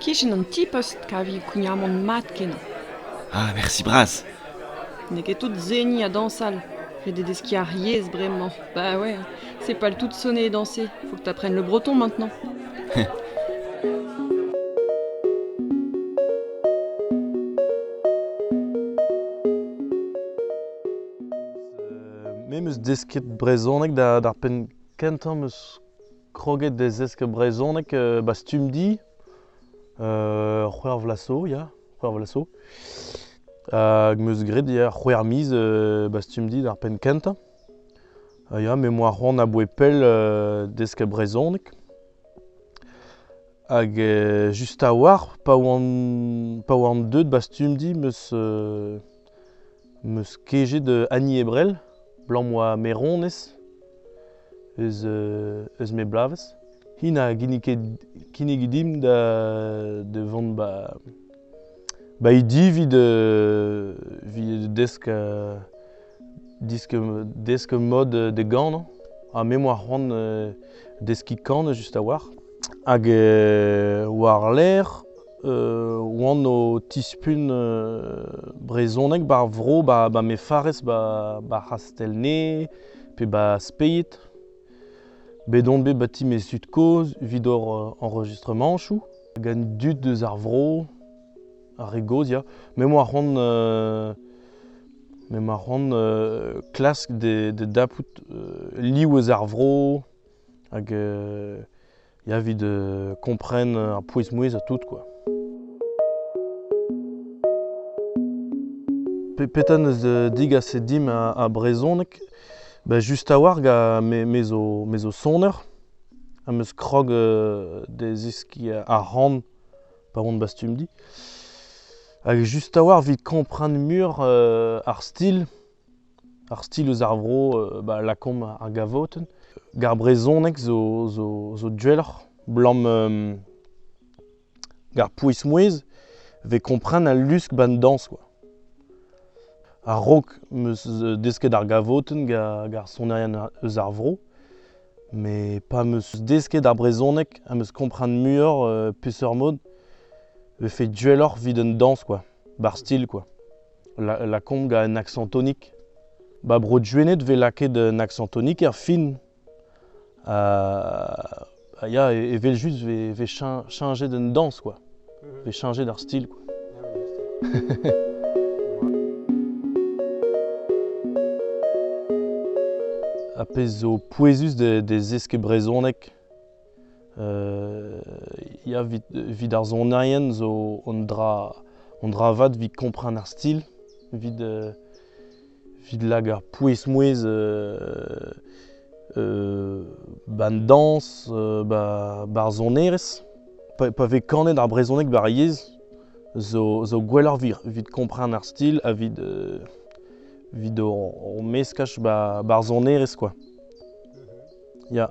Kichen an ti-post kavio kougnamant mat-kenañ. Ah, mersi bras. N'eo ket tout seniñ ha dañsal. Ret eo deskiñ ar yezh bremañ. Bah ouais, c'est pas le tout de sonner et danser. Faut que t'apprennes le breton maintenant. Me 'm eus desket brezhoneg d'ar penn kentañ 'm eus kroget da zesk brezhoneg euh, ba Stumdi, euh, c'hwec'h vlaso, ya, c'hwec'h vlaso. Hag meus graet ya c'hwec'h miz euh, ba Stumdi d'ar penn kentañ. Uh, ya, me moa c'hoant aboe pell uh, desk brezhoneg. Hag uh, just a-walc'h, pa oan, pa oan deuet ba Stumdi, meus uh, 'Meus kejet Annie Ebrel, 'balañ 'oa maeronez eus eus ma bloavezh. Hi na ginnig ket kinnig dimp da da vont 'ba ba he di 'vit evit desk desk mod da ganañ. Ha me 'moa c'hoant deskiñ kan just a-walc'h. Hag war-lerc'h oan o tispugn brezhoneg ba'r vro ba me farrez ba C'hastelnay pe ba Speied. Bet on bet ba ti mes zud-kozh evit hor enregistremañchoù gant dud deus ar vro, ar re gozh ya. Me 'moa c'hoant me 'moa c'hoant klask da dapout liv eus ar vro. hag ya evit kompren ar pouez-mouezh ha tout quoi. Petra 'neus digaset dimp a brezhoneg? Ben just a-walc'h gant me zo soner ha 'meus krog da zeskiñ ar c'han pa on bastumdi. Hag just a-walc'h evit kompren muioc'h ar stil. Ar stil eus ar vro ba lakaomp ar gavotenn. Gar brezhoneg zo duelloc'h 'blam gar pouez-mouezh 'vez kompren al lusk 'ba 'n dañs kwa. A-raok 'm eus desket ar gavotenn gar sonerien eus ar vro met pa 'm eus desket ar brezhoneg ha 'm eus kompren muioc'h peseurt mod 'vefe duelloc'h 'vit 'n dañs kwa, ba'r stil kwa. lakaomp gant un aksañ tonik. Ba Bro Duened 'vez lakaet un aksañ tonik er fin. ya, evel-just 'vez chañjet un dañs quoi. 'vez chañjet ar stil quoi. A pezh zo pouezus de zeskiñ brezhoneg. Evit ar sonerien zo un dra vat evit kompren ar stil, evit lak ar pouez-mouezh ba an dañs, ba'r sonerezh. Pa vez kanet ar brezhoneg ba'r yezh zo gwelloc'h evit kompren ar stil ha evit o meskaj ba'r sonerezh kwa. Ya.